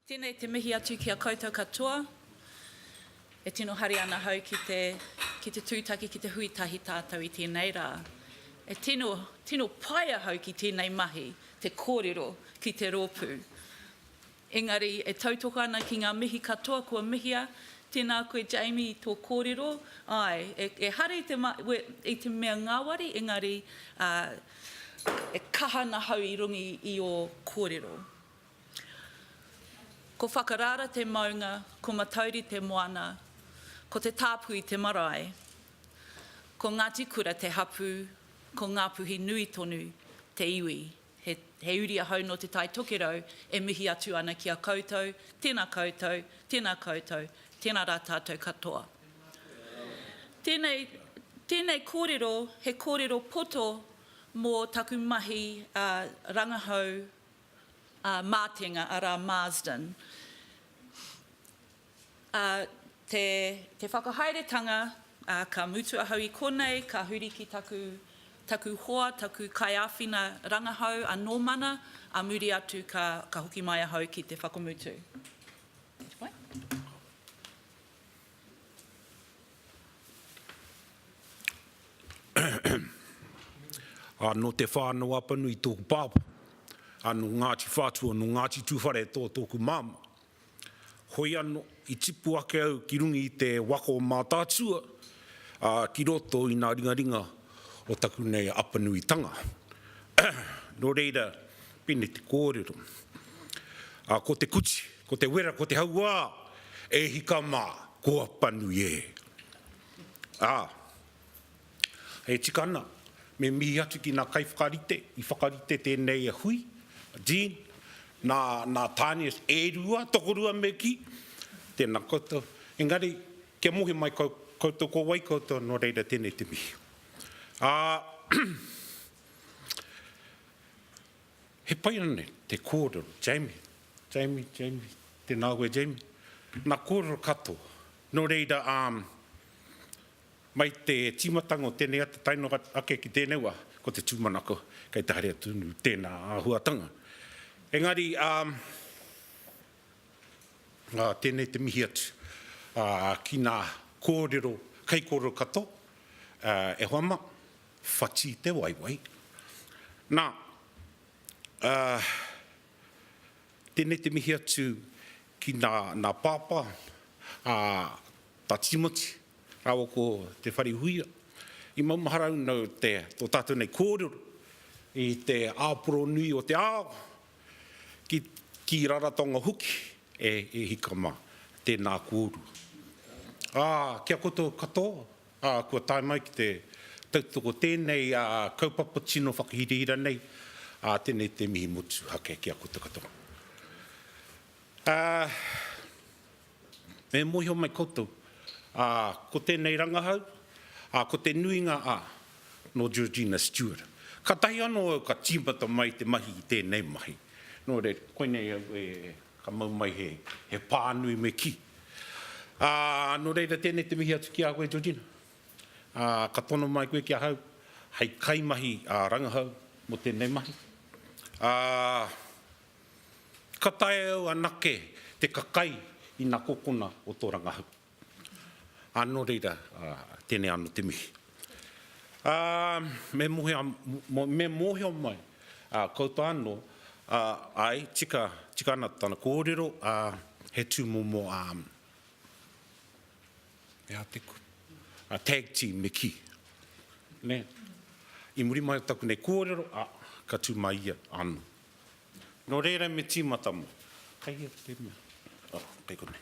Tēnei te mihi atu ki a koutou katoa. E tino haria ana hau ki te, ki te tūtaki, ki te hui tahi tātou i tēnei rā. E tino, tino pai ahau ki tēnei mahi, te kōrero ki te rōpū. Engari, e tautoko ana ki ngā mihi katoa kua mihia, tēnā koe Jamie i tō kōrero, āe, e hare i te i te mea ngāwari engari, ā, e kaha ana hau i runga i ō kōrero. Ko Whakarara te maunga, ko Matauri te moana, ko Te Tāpui te marae, ko Ngāti Kura te hapū, ko Ngāpuhi nui tonu te iwi. He uri ahau nō Te Tai Tokerau e mihi atu ana ki a koutou, tēnā koutou, tēnā koutou, tēnā rā tātou katoa. Tēnei, tēnei kōrero, he kōrero poto mō taku mahi a rangahau a Mātenga, arā Marsden. Ā, te, te whakahaeretanga, ā, ka mutu ahau i konei, ka huri ki taku, taku hoa, taku kaiāwhina rangahau a Nōmana, ā muri atu ka, ka hoki mai ahau ki te whakamutu. Next point. Ā, nō Te Whānau-a-Panui tōku pāpā, ā, nō Ngāti Whātua, nō Ngāti Tūwhare tō tōku māmā. Hoi ano, i tipu ake au ki runga i te waka o Mātaatua, a, ki roto i nga ringaringa o taku nei Apanuitanga. No reira, pene te kōrero. A, ko te kuti, ko te wera, ko te hauā, e hika ma, ko Apanui e! A. E tika ana, me mihi atu ki ngā kaiwhakarite i whakarite tēnei hui, a Jean, nā, nā Tanias e rua, tokorua me kī. Tēnā koutou. Engari, kia mohi mai kau, koutou ko wai koutou, nō reira tēnei te mihi. Ā, he pai ana nei te kōrero, Jamie, Jamie, Jamie, tēnā koe Jamie, nā kōrero katoa. Nō reira, ā, Mai te tīmatanga o tēnei ata tae noa ake ki tēnei wā, ko te tūmanako kei te haere tonu tēnā āhuatanga. Engari, tēnei te mihi atu ki nā kōrero, kaikōrero katoa, e hoa mā, whati te waewae. Nā, Tēnei te mihi atu ki nā, nā Pāpā, ā, tā Tīmoti, rāua ko Te Wharehuia. I maumahara au nō te, tō tātou nei kōrero i te āporonui o te ao, ki, ki Raratonga hoki, e, e hika mā, tēnā kōrua. Ā, ki a koutou katoa, Ā, kua tae mai ki te tautoko tēnei kaupapa tino whakahirahira nei, ā, tēnei te mihi motuhake ki a koutou katoa. Ā, e mōhio mai koutou, ā, ko tēnei rangahau, ā, ko te nuinga, ā, nō Georgina Stewart. Kātahi anō au ka tīmata mai te mahi i tēnei mahi. Nō reira, koinei au e Ka mau mai he, he pānui me kī. Ā, nō reira tēnei te mihi atu ki a koe Georgina. Ā, ka tono mai koe ki ahau hei kaimahi rangahau mō tēnei mahi. Ā, ka taea au anake te kakai i nā kokona o tō rangahau. Ā, nō reira, ā, tēnei anō te mihi. Ā, me mōhio, me mōhio mai, ā, koutou anō, ā, āe, tika, tika ana tana kōrero, ā, he tūmomo, ā, he aha te kupu, ā, tag team me kī, nē. I muri mai o taku nei kōrero, ā, ka tū mai ia anō. Nō reira me tīmata mai. Kei hea te mea? Ā, kei konei.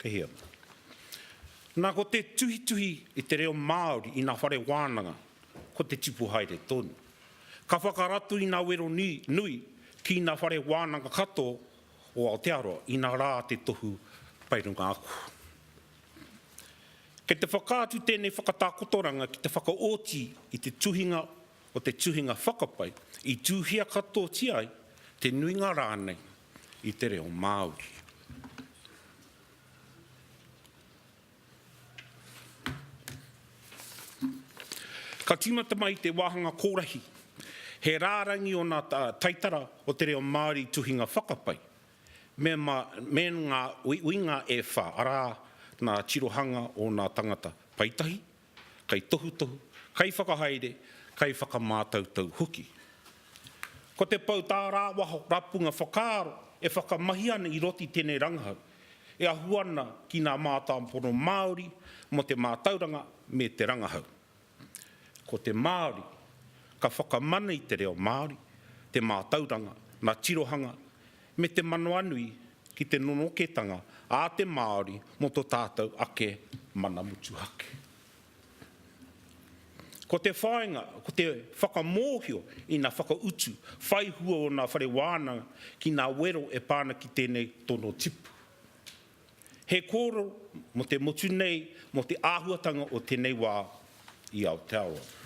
Kei hea? Na ko te tuhituhi i te reo Māori i na whare wānanga ko te tipu haere tonu. Ka whakarato i na wero nui ki na whare wānanga kato o Aotearoa i na ra te tohu pai runga aku. Kei te whakaatu tenei whakatakotoranga ki te whakaoti i te tuhinga o te tuhinga whakapai i tuhia katotia ai te nuinga ranei i te reo Māori. Ka tīmata mai te wāhanga kōrahi, he rārangi ōna taitara o te reo Māori tuhinga whakapai, me ma, me ngā uiuinga e whā, arā, nā tirohanga ōna tangata paetahi, kaitohutohu, kaiwhakahaere, kaiwhakamātautau hoki. Ko te pou tārāwaho rapunga whakaaro e whakamahi ana i roto i tēnei rangahau, e ahu ana ki ngā mātāpono Māori mō te mātauranga me te rangahau. Ko te Māori, ka whakamana i te reo Māori, te mātauranga, ngā tirohanga me te manawanui ki te nonoketanga a te Māori mō to tātou ake mana motuhake. Ko te whāinga, ko te whakamōhio ina whakautu whai hua o nā whare wānanga ki nā wero e pā ana ki tēnei tono tipu. He kōrero mō te motu nei, mō te āhuatanga o tēnei wā i Aotearoa.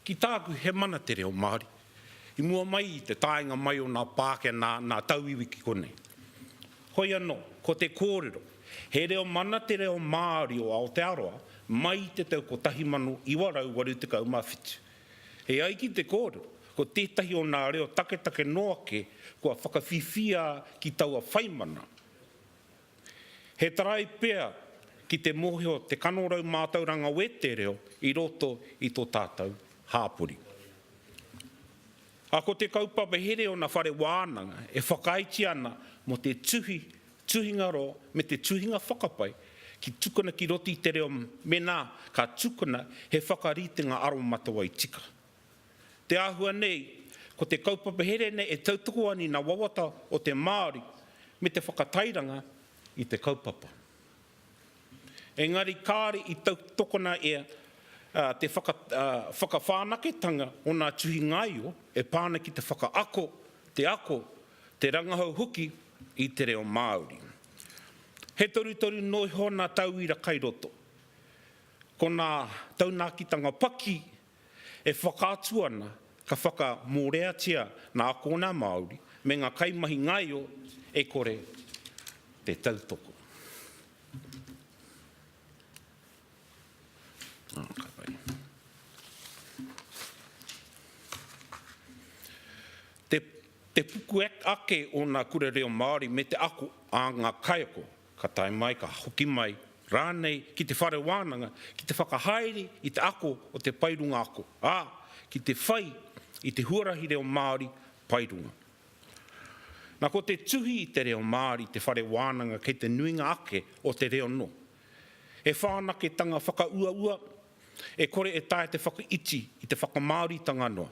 Ki tāku, he mana te reo Māori. I mua mai i te taenga mai o nā Pākehā, nā, nā tauiwi ki konei. Hoi anō, ko te kōrero, he reo mana te reo Māori o Aotearoa mai i te tau 1987. E ai ki te kōrero, ko tētahi o nā reo taketake noa ake kua whakawhiwhia ki taua whaimana. He tarai pea ki te mōhio te kanorau mātauranga wētē reo i roto i tō tātou hāpori. A ko te kaupapa here o na whare wānanga e whakaaetia ana mo te tuhi Tuhinga roa me te tuhinga whakapae ki tukuna ki roto i te reo menā ka tukuna he whakaritenga aromatawai tika. Te āhua nei, ko te kaupapa here nei e tautoko ani nā wawata o te Māori me te whakatairanga i te kaupapa. Engari kāore i tautokona e te whakawhanaketanga o nā tuhingaio e pā ana ki te whakaako, te ako Te rangahau hoki i te reo Māori. He torutoru noa iho nā tauira kai roto. Ko nā taunakitanga paki e whakaatu ana ka whakamōreatia nā akōna Māori me ngā kaimahi ngaio e kore te tautoko. Te te puku ake o nga kura reo Maori me te ako a nga kaiako, ka tae mai, ka hoki mai ranei ki te whare wananga ki te whakahaere i te ako o te pae runga ako, a, ki te whai i te huarahi reo Maori pae runga. Na ko te tuhi i te reo Maori te whare wananga kei te nuinga ake o te reo no he whanaketanga whakauaua e kore e taea te whakaiti i te whakamaoritanga noa.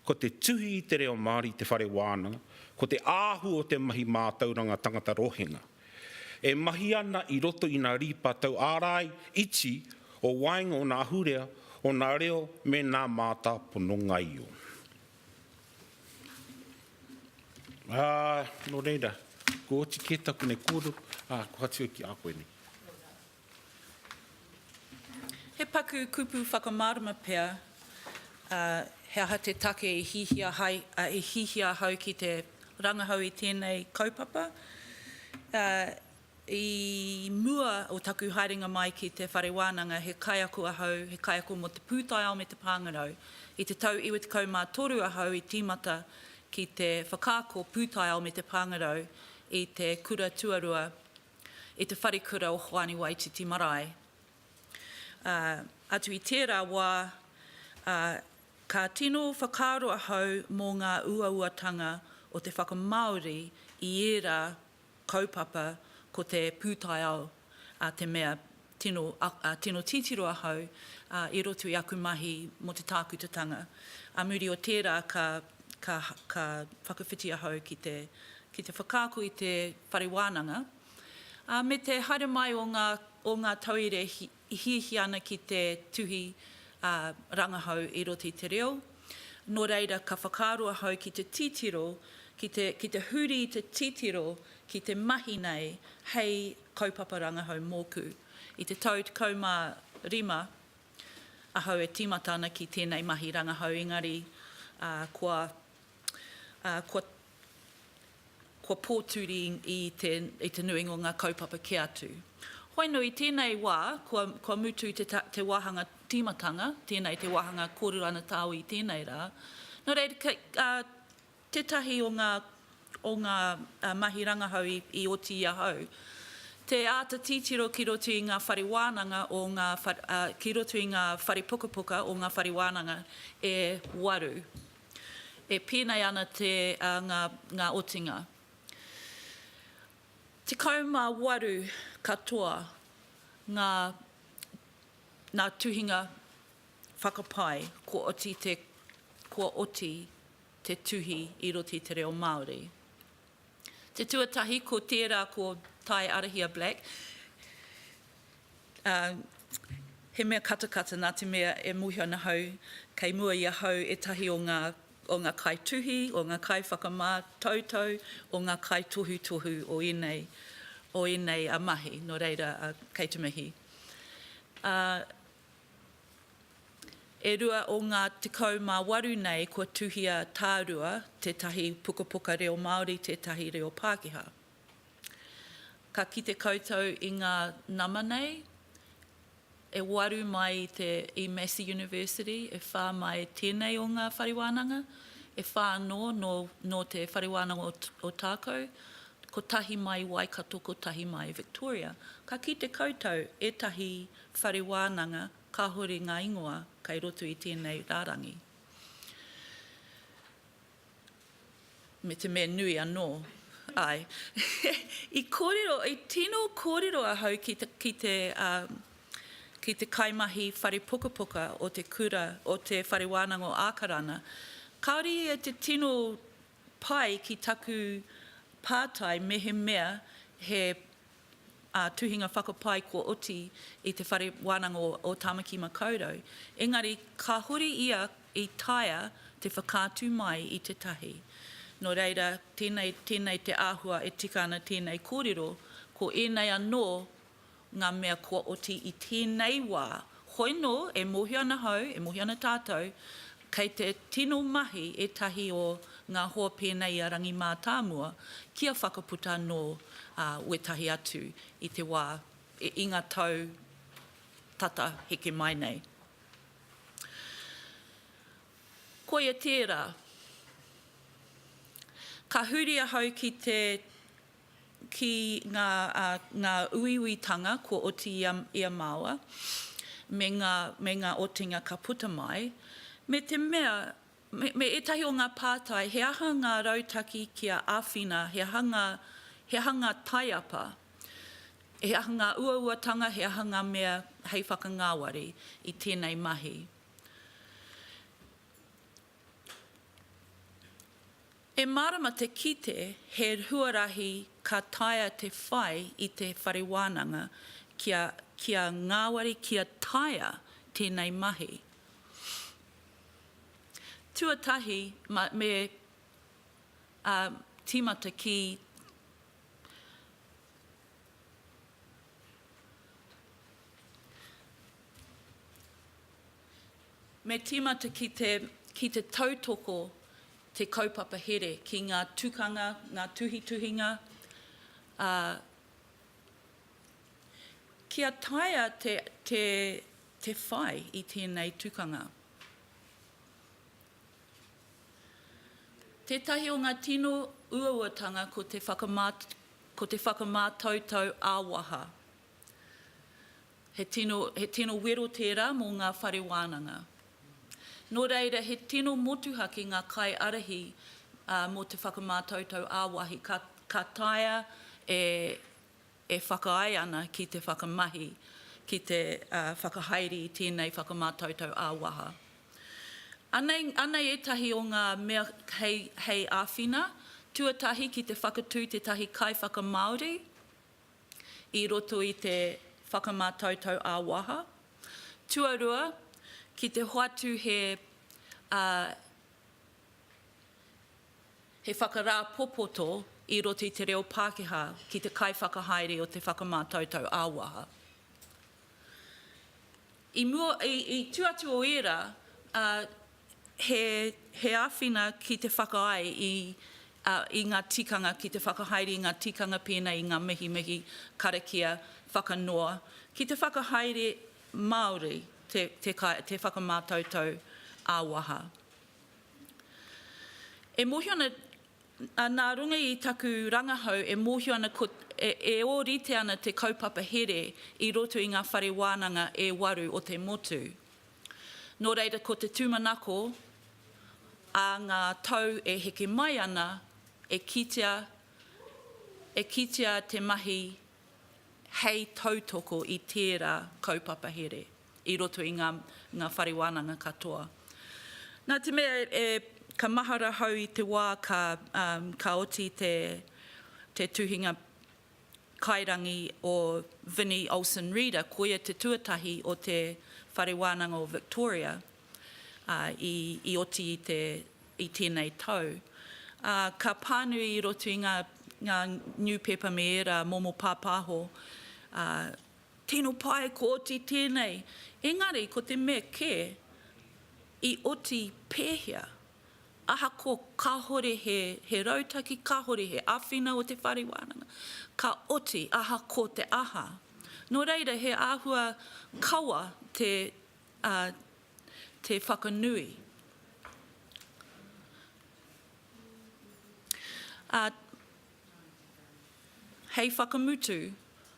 Ko te tuhi i te reo Māori i te whare wānanga, ko te āhua o te mahi mātauranga tangata rohenga. E mahi ana i roto i nā rīpa tau ārai iti o waenga o nā ahurea o nā reo me nā mātāpono ngaio. Ā, nō reira, kua oti kē taku nei kōrero, ā, kohatia ki a koe nei. He paku kupu whakamārama pea he aha te take i hihia hai, i hihia ahau ki te rangahau i tēnei kaupapa. I mua o taku haerenga mai ki te Whare Wānanga he kaiako ahau, he kaiako mō te pūtaiao me te pāngarau. I te tau 93 ahau i tīmata ki te whakaako pūtaiao me te pāngarau i te kura tuarua i te wharekura o Hoani Waititi Marae. Ā, atu i tērā wā, ā, ka tino whakaaro ahau mō ngā uauatanga o te whakamāori i ērā kaupapa ko te pūtaiao, ā, te mea Tino, ā, tino titiro ahau, ā, i roto i aku mahi mō te tākutatanga. Ā muri o tērā ka, ka, ka whakawhiti ahau ki te, ki te whakaako i te whare wānanga, ā, me te haere mai o ngā, o ngā tauire i hiahia ana ki te tuhi, ā, rangahau i roto i te reo. Nō reira, ka whakaaro ahau ki te titiro, ki te, ki te huri i te titiro ki te mahi nei hei kaupapa rangahau mōku. I te tau 15 ahau e tīmata ana ki tēnei mahi rangahau engari kua kua kua pōturi i te i te nuinga o ngā kaupapa kē atu. Hoinu i tēnei wā kua kua mutu te te wāhanga tīmatanga, tēnei te wāhanga kōrero ana tāu i tēnei rā. Nō reira, Tētahi o ngā o ngā mahi rangahau i oti i ahau, te āta titiro ki roto i ngā whare wānanga o ngā ki roto i ngā whare pukapuka o ngā whare wānanga e waru. E pēnei ana te ngā ngā otinga. 18 katoa ngā ngā tuhinga whakapae kua oti te kua oti te tuhi i roto i te reo Māori. Te tuatahi ko tērā ko Tae Arahia Black, ā, he mea katakata nā te mea e mōhio ana ahau kei mua i ahau ētahi o ngā, o ngā kaituhi, o ngā kaiwhakamātautau, o ngā kaitohutohu o ēnei, o ēnei mahi, nō reira, kei te mihi. Ā. E rua o ngā tekau mā waru nei kua tuhia tārua tētahi pukapuka reo Māori tētahi reo Pākehā. Ka kite koutou i ngā nama nei, e waru mai i te i Massey University, e whā mai tēnei o ngā whare wānanga, e whā anō nō nō te whare wānanga o o Tākou, kotahi mai Waikato kotahi mai Victoria. Ka kite koutou ētahi Whare wānanga, kāhore ngā ingoa kei roto i tēnei rārangi. Me te mea nui anō, āe. I kōrero, i tino kōrero ahau ki te, ki te, ā, ki te kaimahi whare pukapuka o te kura, o te Whare Wānanga o Ākarana. Kāore ia te tino pai ki taku pātai mehemea he tuhinga whakapae kua oti i te Whare Wānanga o Tāmaki Makaurau, engari ka huri ia i taea te whakaatu mai i te tahi. Nō reira, tēnei, tēnei te āhua e tika ana tēnei kōrero, ko ēnei anō ngā mea kua oti i tēnei wā Hoi nō, e mōhio ana hau, e mōhio ana tātou, kei te tino mahi ētahi o ngā hoa pēnei i a Rangi Mātāmua kia whakaputa nō wētahi atu i te wā, i ngā tau tata heke mai nei. Koia tērā. Ka huri ahau ki te. ki ngā, ngā uiuitanga kua oti i a, i a māua, me ngā, me ngā otinga ka puta mai, me te mea, me, me ētahi o ngā pātai, he aha ngā rautaki kia āwhina, he aha ngā, he aha ngā taiapa, he aha ngā uauatanga, he aha ngā mea hei whakangāwari i tēnei mahi. He mārama te kite he huarahi ka taea te whai i te whare wānanga kia kia ngāwari kia taea tēnei mahi. Tuatahi me ā tīmata ki Me tīmata ki te, ki te tautoko te kaupapa here ki ngā tukanga, ngā tuhituhinga, ā, kia taea te, te, te whai i tēnei tukanga. Tētahi o ngā tino uauatanga ko te whakamā, ko te whakamātautau ā-waha. He tino, he tino wero tērā mō ngā whare wānanga. Nō reira, he tino motuhake ngā kaiārahi ā, mō te whakamātautau ā-wāhi, ka, ka taea e, e whakaae ana ki te whakamahi, ki te ā, whakahaere i tēnei whakamātautau ā-waha. Anei, anei ētahi o ngā mea hei, hei āwhina, tuatahi ki te whakatū tētahi kaiwhakamāori, i roto i te whakamātautau ā-waha. Tuarua, ki te hoatu he he whakarāpopoto i roto i te reo Pākehā ki te kaiwhakahaere o te whakamātautau ā-waha. I mua, i, i, tu atu o ērā, he āwhina ki te whakaae i ngā tikanga, ki te whakahaere i ngā tikanga pēnei i ngā mihimihi, karakia, whakanoa, ki te whakahaere Māori te whakamātautau ā-waha. E mōhio ana, nā runga i taku rangahau e mōhio ana e ōrite ana te kaupapa here i roto i ngā whare wānanga e waru o te motu. Nō reira ko te tūmanako ā ngā tau e heke mai ana e kitea e kitea te mahi hei tautoko i tērā kaupapa here i roto i ngā ngā whare wānanga katoa. Nā te mea e ka mahara hau i te wā ka ka oti te te tuhinga kairangi o Vinny Olsen Reeder, koia te tuatahi o te Whare Wānanga o Victoria i oti i tēnei tau. Ka pānui i roto i ngā niupepa me ērā momo pāpāho, tino pai kua oti tēnei, engari ko te mea kē, i oti pēhea? Ahakoa kāhore he rautaki, kāhore he āwhina o te whare wānanga, ka oti aha ko te aha. Nō reira he āhua kawa te whakanui. Hei whakamutu,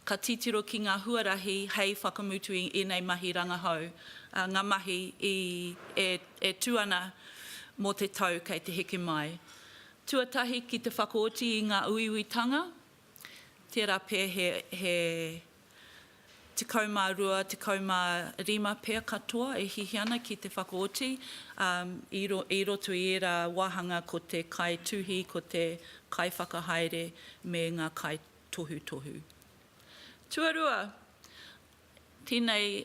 ka titiro ki ngā huarahi hei whakamutu i ēnei mahi rangahau, ngā mahi e tū ana mō te tau kei te heke mai. Tuatahi ki te whakaoti i ngā uiuitanga, tērā pea he Tekau mā rua, tekau mā rima pea katoa e hihi ana ki te whakaoti i roto i ērā wāhanga ko te kaituhi, ko te kaiwhakahaere me ngā kaitohutohu. Tuarua, tēnei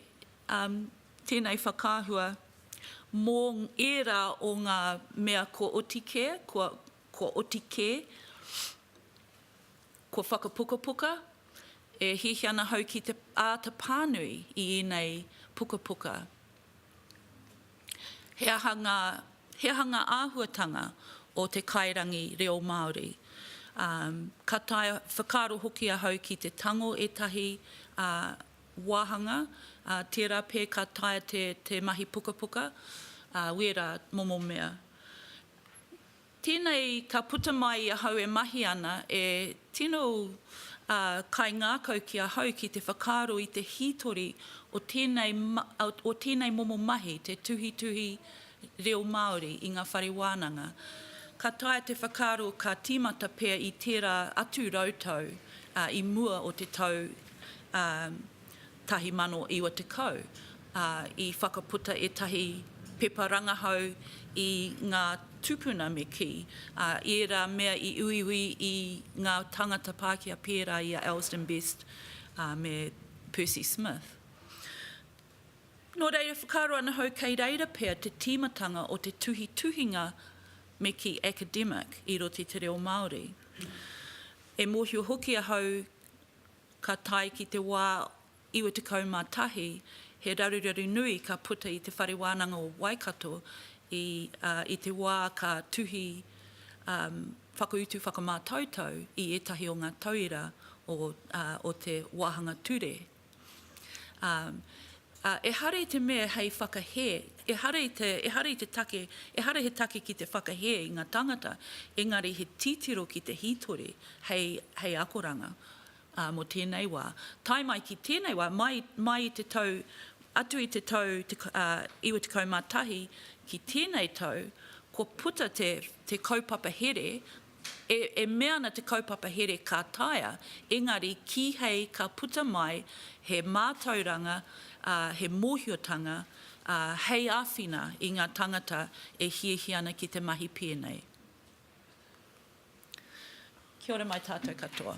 whakaahua mō ērā o ngā mea kua oti kē, kua oti kē, Kua whakapukapuka, e hihi ana hau ki te āta pānui i ēnei pukapuka. He aha ngā, he aha ngā āhuatanga o te kairangi reo Māori? Ā, ka taea whakaaro hoki ahau ki te tango ētahi, ā, wāhanga, ā, tērā pea ka taea te, te mahi pukapuka, ā, wērā momo mea. Tēnei ka puta mai i ahau e mahi ana, e tino kaingākau ki ahau ki te whakaaro i te hītori o tēnei, o tēnei momo mahi, te tuhituhi reo Māori i ngā whare wānanga. Ka taea te whakaaro ka tīmata pea i tērā atu rautau i mua o te tau 1990, ā, i whakaputa ētahi pepa rangahau i ngā tūpuna me kī, ā, i ērā mea i uiui i ngā tāngata Pākehā pērā i a Elsdon Best, ā, me Percy Smith. Nō reira, whakaaro ana hou kei reira pea te tīmatanga o te tuhituhinga me kī academic i roto i te reo Māori. E mōhio hoki ahau, ka tae ki te wā 91, he raruraru nui ka puta i te Whare Wānanga o Waikato i te wā ka tuhi whakautu whakamātautau i ētahi o ngā tauira o te wāhanga ture. Ā, ehara i te mea hei whakahē, ehara i te, ehara i te take, ehara he take ki te whakahē i ngā tāngata, engari he titiro ki te hītori hei, hei akoranga, ā, mō tēnei wā. Tae mai ki tēnei wā, mai, mai i te tau, atu i te tau te, ā, 91 ki tēnei tau, kua puta te, te kaupapa here, E mea ana te kaupapa here ka taea, engari kīhei ka puta mai he mātauranga, he mōhiotanga hei āwhina i ngā tāngata e hiahia ana ki te mahi pēnei. Kia ora mai tātou katoa.